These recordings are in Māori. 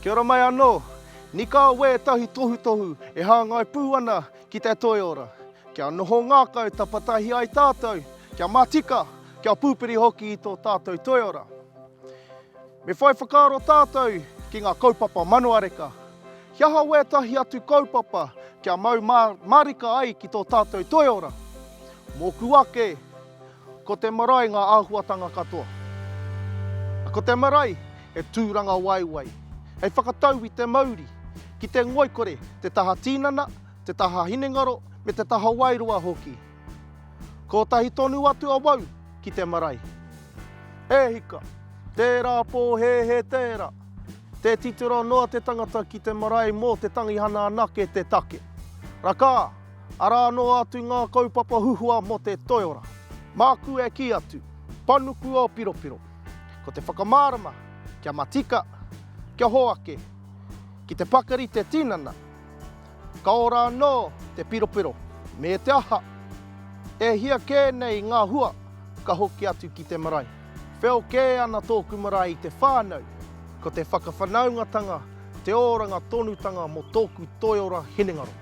Kia ora mai anō! Nikā wē ētahi tohutohu e hāngai pū ana ki te toiora. Kia noho ngākau tapatahi ai tātou, kia matika, kia pūpiri hoki i tō tātou toiora. Me whai whakaaro tātou ki ngā kaupapa manuareka. He aha wētahi atu kaupapa kia mau mā, mārika ai ki tō tātou toiora? Mōku ake, Ko te marae ngā āhuatanga katoa. Ko te marae he tūrangawaewae hei whakatau i te mauri ki te ngoikore, te taha tīnana, te taha hinengaro me te taha wairua hoki. Kotahi tonu atu awau ki te marae. He hika, tērā pō he he tērā. Tē titiro noa te tangata ki te marae mō te tangihana anake te take. Rakā! Arā noa atu ngā kaupapa huhua mō te toiora. Māku e kī atu, panuku ō piropiro. Ko te whakamārama, kia matika, kia hoake, ki te pakari te tinana, ka ora anō te piropiro, me te aha, e hia kē nei ngā hua ka hoki atu ki te marae. Wheo kē ana tōku marae i te whānau, ko te whakawhanaungatanga te oranga tonutanga mō tōku toiora hinengaro.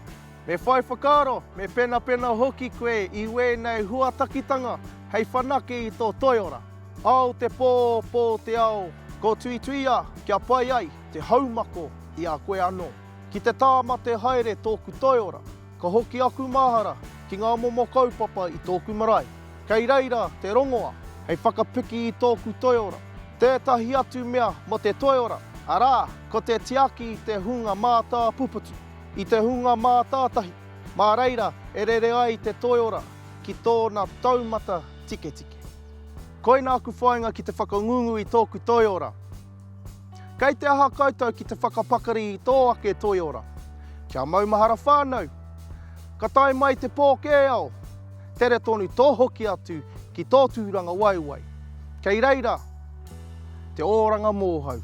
Me whai whakaaro, me penapena hoki koe i wēnei huatakitanga hei whanake i tō toiora. Ao te pō, pō te ao, ko Tuituia kia pai ai te haumako i a koe anō. Ki te tāmate haere tōku toiora, ka hoki aku mahara ki ngā momo kaupapa i tōku marae. Kei reira te rongoa hei whakapiki i tōku toiora. Tētahi atu mea mō te toiora, arā, ko te tiaki i te hunga mātāpuputu. I te hunga mātātahi, mā reira e rere ai te toiora ki tōna taumata tiketike. Koina aku whāinga ki te whakangungu i tōku toiora. Kei te aha koutou ki te whakapakari i tō ake toiora? Kia maumahara whānau! Ka tae mai te pōkēao, tere tonu tō hoki atu ki tō tūrangawaewae. Kei reira te oranga mōhau.